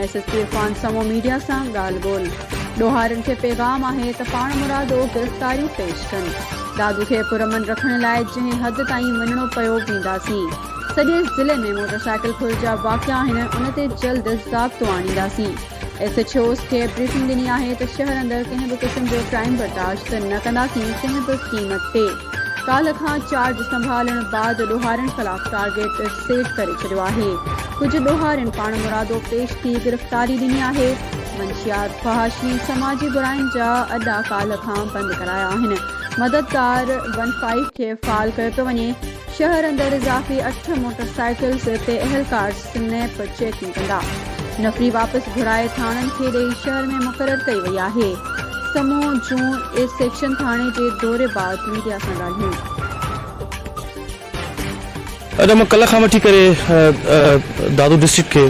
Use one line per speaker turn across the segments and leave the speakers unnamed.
S S P Irfan Samoon media سان ڳالهه ٻولهه، ڏوهارين کي پيغام آهي ته پاڻمرادو گرفتاريون پيش ڪن، دادو کي پرامن رکڻ لاء جنهن حد تائين وڃڻو پيو وينداسين، سڄي ضلعي ۾ موٽرسائيڪل ڦر جا واقعا آهن ان تي جلد ضابطو آڻينداسين. ايس ايڇ اوز کي بريفنگ ڏني آهي ته شهر اندر ڪنهن به قسم جو ڪرائيم برداشت نه ڪنداسين ڪنهن به قيمت تي، ڪالهه کان چارج سنڀالڻ بعد ڏوهارين خلاف ٽارگيٽ سيٽ ڪري ڇڏيو آهي، ڪجهه ڏوهارين پاڻمرادو پيش ٿي گرفتاري ڏني آهي، منشيات، فحاشي ۽ سماجي براين جا اڏا ڪالهه کان بند ڪرايا آهن، مددگار ون فائيو کي فعال ڪيو پيو وڃي، شهر اندر اضافي اٺ موٽرسائيڪلز تي اهلڪار. سنهن پر چيڪنگ ڪندا. نفري واپس گهرائي ٿاڻن کي ڏئي شهر ۾ مقرر ڪئي وئي آهي. سمون جون اي سيڪشن ٿاڻي جي دوري بعد ميڊيا سان ڳالهيون.
اڄ مان ڪلهه کان وٺي ڪري دادو ڊسٽرڪٽ کي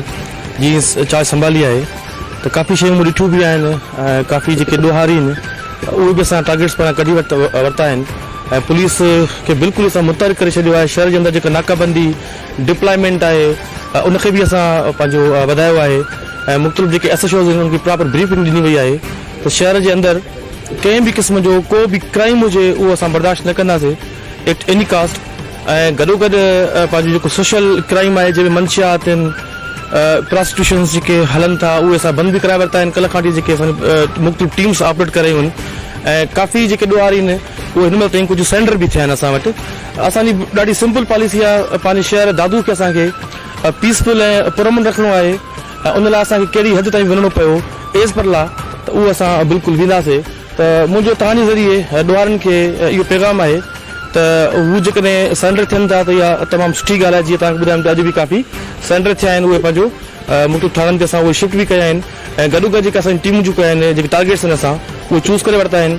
جي چارج سنڀالي آهي ته ڪافي شيون مون ڏٺيون به آهن ۽ ڪافي جيڪي ڏوهاري آهن اهي به اسان ٽارگيٽس پاران ڪڍي ورتا آهن ۽ پوليس کي بلڪل اسان متحرڪ ڪري ڇڏيو آهي شهر جي اندر جيڪا ناڪابندي ڊپلائمينٽ آهي ان کي به اسان پنهنجو وڌايو آهي ۽ مختلف جيڪي ايس ايڇ اوز آهن انهن کي پراپر بريفنگ ڏني وئي آهي ته شهر جي اندر ڪنهن به قسم جو ڪو به ڪرائيم هجي اهو اسان برداشت نه ڪنداسين ايٽ ايني ڪاسٽ ۽ گڏوگڏ پنهنجو جيڪو سوشل ڪرائيم آهي جنهن ۾ منشيات آهن پراسٽيوشنس جيڪي هلن ٿا اهي اسان بند به ڪرائي ورتا آهن ڪلهه کان وٺي جيڪي اسان جون مختلف ٽيمز آپريٽ ڪري رهيون آهن ۽ ڪافي جيڪي ڏوهاري آهن اهي هن مهل تائين ڪجهه سرينڊر به ٿيا آهن اسان وٽ اسان جي ڏاڍي سمپل پاليسي آهي پنهنجي شهر دادو کي اسان کي پيس فل ۽ پرامن رکڻو آهي ۽ ان لاء اسان کي ڪهڙي حد تائين وڃڻو پيو ايز پر لا ته اهو اسان بلڪل وينداسي ته منهنجو توهان جي ذريعي ڏوهارين کي اهو پيغام آهي ته هو جيڪڏهن سرينڊر ٿين ٿا ته اها تمام سٺي ڳالهه آهي جيئن توهان کي ٻڌايم ته اڄ به ڪافي سرينڊر ٿيا آهن اهي پنهنجو مختلف ٿاڻن تي اسان اهي شفٽ به ڪيا آهن ۽ گڏوگڏ جيڪي اسان جون ٽيمون جيڪي آهن جيڪي ٽارگيٽس آهن اسان اهي چوز ڪري ورتا آهن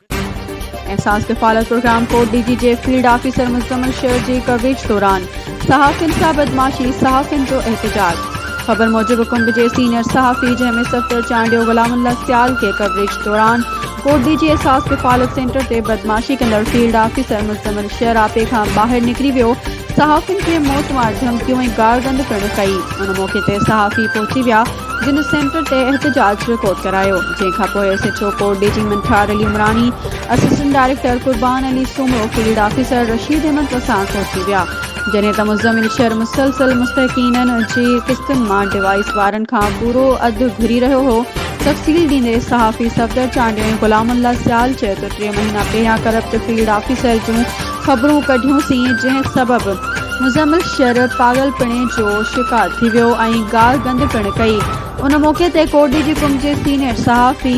احساس ڪفالت
پروگرام ڪوٽ ڊي جي جي فيلڊ آفيسر مزمل شير جي ڪوريج دوران صحافين سان بدمعاشي صحافين جو احتجاج خبر موجب ڪنب جي سينئر صحافي جنهن ۾ صفدر چانڊيو غلام الله سيال کي ڪوريج دوران ڪوٽ ڊي جي احساس ڪفالت سينٽر تي بدمعاشي ڪندڙ فيلڊ آفيسر مزمل شير آپي کان ٻاهر نڪري ويو صحافين کي موت وارد ڌمڪيون ۽ گار گند پڻ ڪئي ان موقعي تي صحافي پهچي ويا جن سينٽر تي احتجاج رڪارڊ ڪرايو جنهن کانپوء S H O Kot Diji Manthar Ali Umrani assistant director Qurban Ali Soomro field officer Rashid Ahmed پساهه پهچي ويا جڏهن ته مزمل شر مسلسل مستحقينن جي قسطن مان ڊوائيس وارن کان پورو اڌ گهري رهيو هو تفصيل ڏيندي صحافي صفدر چانڊيو ۽ غلام الله سيال چيو ته ٽي مهينا پهريان ڪرپٽ فيلڊ آفيسر جون خبرون ڪڍيون سين جنهن سبب مزمل شر پاڳل پڻي جو شڪار ٿي ويو ۽ گار گند پڻ ڪئي ان موقعي تي ڪوٽڏيجي قم جي سينئر صحافي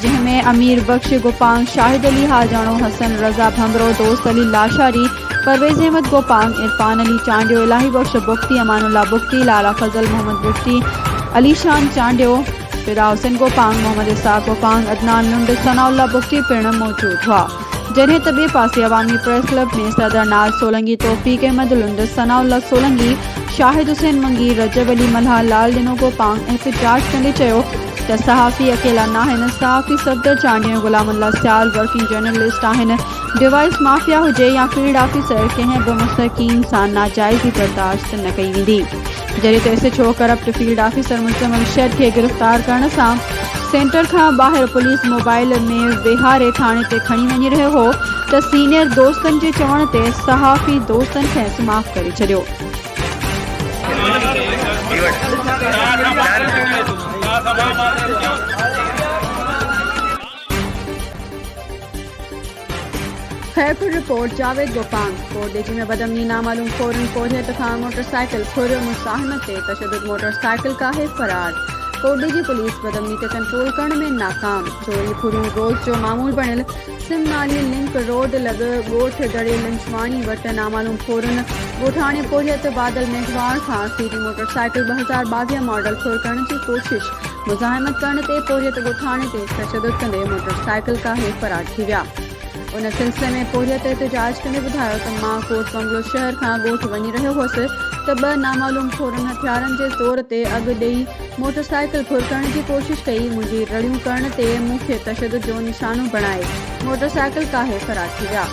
جنهن ۾ امير بخش گوپانگ شاهد علي حاجاڻو حسن رضا ڀنڀرو دوست علي لاشاري پرويزاحمد گوپانگ عرفان علي چانڊيو الاهي بخش بگٽي امان الله بگٽي لالا فضل محمد بگٽي علي شان چانڊيو فدا حسين گوپانگ محمد اسحاق گوپانگ عدنان لنڊ ثناء الله بگٽي پڻ موجود هئا جڏهن ته ٻئي پاسي عوامي پريس ڪلب ۾ صدر ناز سولنگي، توفيق احمد لنڊ، ثناء الله سولنگي، شاهد حسين منگي، رجب علي ملاح، لال ڏنو گوپانگ احتجاج ڪندي چيو ته صحافي اڪيلا ناهن، صحافي صفدر چانڊيو ۽ غلام الله سيال ورڪنگ جرنلسٽ آهن، ڊوائيس مافيا هجي يا فيلڊ آفيسر ڪنهن به مستحقين سان ناجائزي برداشت نه ڪئي ويندي. جڏهن ته S H O corrupt field officer Muzammil شيد کي گرفتار ڪرڻ سان سينٽر کان ٻاهر پوليس موبائيل ۾ ويهاري ٿاڻي تي کڻي وڃي رهيو هو ته سينيئر دوستن جي چوڻ تي صحافي دوستن کيس معاف ڪري ڇڏيو. خيرپور، رپورٽ، جاويد گوپانگ، ڪور ڏيچي ۾ بدامني، نامعلوم ڦورن پورهيت کان موٽرسائيڪل ڦريو، مصاحنه تي تشدد، موٽرسائيڪل ڪاهي فرار، ڪور ڏيچي پوليس بدامني تي ڪنٽرول ڪرڻ ۾ ناڪام، چوري ڦريون روز جو معمول بڻيل، سم نالي لنڪ روڊ لڳ ڳوٺ دڙي لنڇواڻي وٽ نامعلوم ڦورن ڳوٺاڻي پورهيت بادل ميگهواڙ کان سي ڊي موٽرسائيڪل ٻه هزار ٻاويهه ماڊل ڦر ڪرڻ جي ڪوشش، مزاحمت ڪرڻ تي پورهيت ڳوٺاڻي تي تشدد ڪندي موٽر سائيڪل ڪاهي فرار ٿي ويا. ان سلسلي ۾ پورهيت احتجاج ڪندي ٻڌايو ته مان ڪوٽ بنگلو شهر کان ڳوٺ وڃي رهيو هوس ته ٻه نامعلوم ڇورن هٿيارن جي زور تي اڳ ڏئي موٽر سائيڪل ڦر ڪرڻ جي ڪوشش ڪئي منهنجي رڙيون ڪرڻ تي مون کي تشدد جو نشانو بڻائي موٽر سائيڪل ڪاهي فرار ٿي ويا.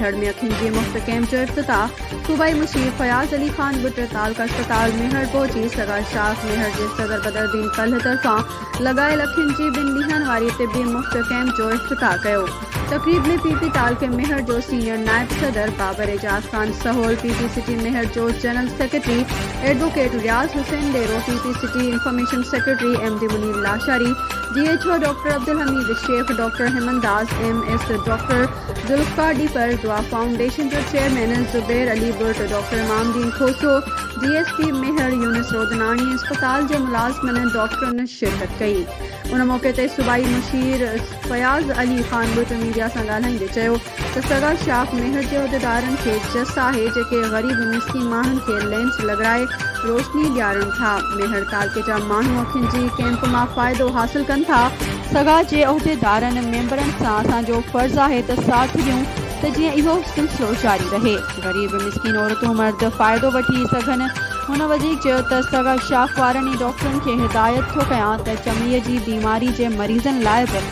ٿڙ ۾ اکين جي مفت ڪئمپ جو افتتاح، صوبائي مشير فياض علي خان بٽ تعلقه اسپتال ميهڙ پهچي سگا اسٽاف ميهڙ جي صدر بدرالدين ڪلهه طرفان لڳايل اکين جي ٻن ڏينهن واري طبي مفت ڪئمپ جو افتتاح ڪيو تقريب ۾ پي پي تعلقي ميهڙ جو سينيئر نائب صدر Babar Ejaz Khan Sahol P P city Mehar جو general secretary advocate Riaz Hussain Dero P P city information secretary M D Munir Lashari D H O doctor Abdul Hameed Shaikh, doctor Heman Das M S, doctor Zulfiqar Dhepar, Dua foundation جو chairman Zubair Ali Burt, doctor Imam Uddin Khoso, D S P Mehar Younis Rodnani ۽ اسپتال جي ملازمن ۽ ڊاڪٽرن شرڪت ڪئي. ان موقعي تي صوبائي مشير فياض علي خان ٻرٽ ميڊيا سان ڳالهائيندي چيو ته سگا شاخ مهڙ جي عهديدارن کي چس آهي جيڪي غريب مسڪين ماڻهن کي لينس لڳرائي روشني ڏيارين ٿا. مهڙ تعلقي جا ماڻهو اکين جي ڪئمپ مان فائدو حاصل ڪن ٿا. سگا جي عهديدارن ميمبرن سان اسان جو فرض آهي ته ساٿ ڏيون ته جيئن اهو سلسلو جاري رهي. غريب مسڪين عورتون مرد فائدو وٺي سگهن. هن وڌيڪ چيو ته سگا شاخ وارن ۽ ڊاڪٽرن کي هدايت ٿو ڪيان ته چمڙي جي بيماري جي مريضن لاء به.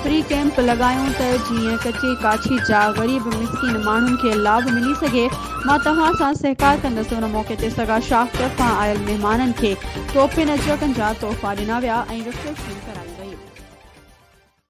فري ڪئمپ لڳايون ته جيئن ڪچي ڪاڇي جا غريب مسڪين ماڻهن کي لاڀ ملي سگهي مان توهان سان سهڪار ڪندس ان موقعي تي سگا شاخ طرفان آيل مهمانن کي ٽوپين ۽ چڪن جا تحفا ڏنا ويا ۽ رفريشمينٽ ڪرائي وئي.